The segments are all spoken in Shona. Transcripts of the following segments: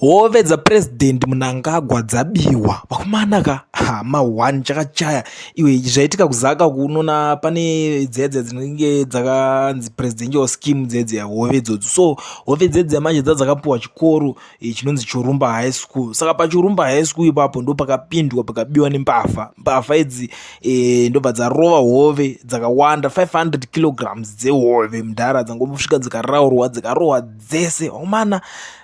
hove dzapurezidendi munangagwa dzabiwa vakomana ka hama one chakachaya iwe zvaitika kuzaka kunona pane dzedze dzinenge dzakanzi presidential scheme dzedze hove idzodzo so hove dzedze yamanje dza dzakapiwa chikoro eh, chinonzi churumba high school saka pachurumba high school ipapo ndo pakapindwa pakabiwa nembavha mbavha idzi eh, ndobva dzarova hove dzakawanda 500 kilograms dzehove mudhara dzangosvika dzikaraurwa dzikarohwa dzese vakomana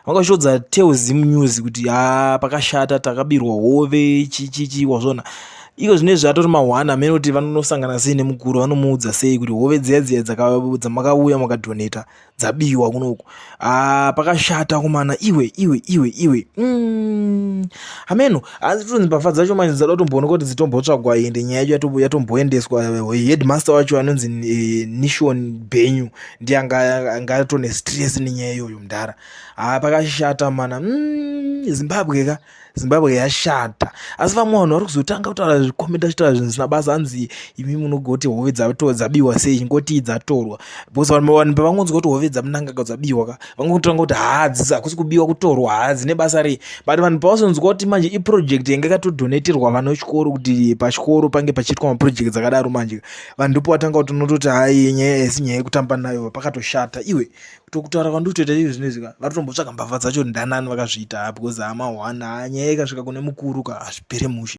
vakashodza telzim news kuti ha pakashata takabirwa hove chichichi wazvona iko zvine zvatori mahwana amene kuti vanonosangana sei nemukuru vanomuudza sei kuti hove dziya dziya dzamakauya makadhoneta dzabiwa kunoku ah, pakashata kumana iwe iwe iwe iwe mm. hameno asi tonzi mbavha dzacho manje dzada kutomboona kuti dzitombotsvagwa ende nyaya yacho yatomboendeswa eh, headmaster wacho anonzi eh, nishon benyu ndiye anga atone stress nenyaya iyoyo mudhara haa pakashata mana mm, zimbabwe ka zimbabwe yashata asi vamwe vanhu vari kuzotanga kutaura zvikomenta zvitaura zvinhu zvisina basa hanzi imi munogoti hove dzabiwa sei chingotii dzatorwa because vanhu vanhu pavangonzwa kuti hove dzamunangaka dzabiwa ka vangotanga kuti haa dzisi hakusi kubiwa kutorwa haa dzine basa rei but vanhu pavazonzwa kuti manje iproject yanga ikatodonatirwa vana vechikoro kuti pachikoro pange pachiitwa maproject dzakadaro manje vandupo watanga kuti unototi hai nyaya haisi nyaya yekutamba nayo pakatoshata iwe tokutaura kwandotoita izvi zvino izvi ka vatotombotsvaga mbavha dzacho ndanani vakazviita because hama one ha nyaya ikasvika kune mukuru ka hazvipere mushe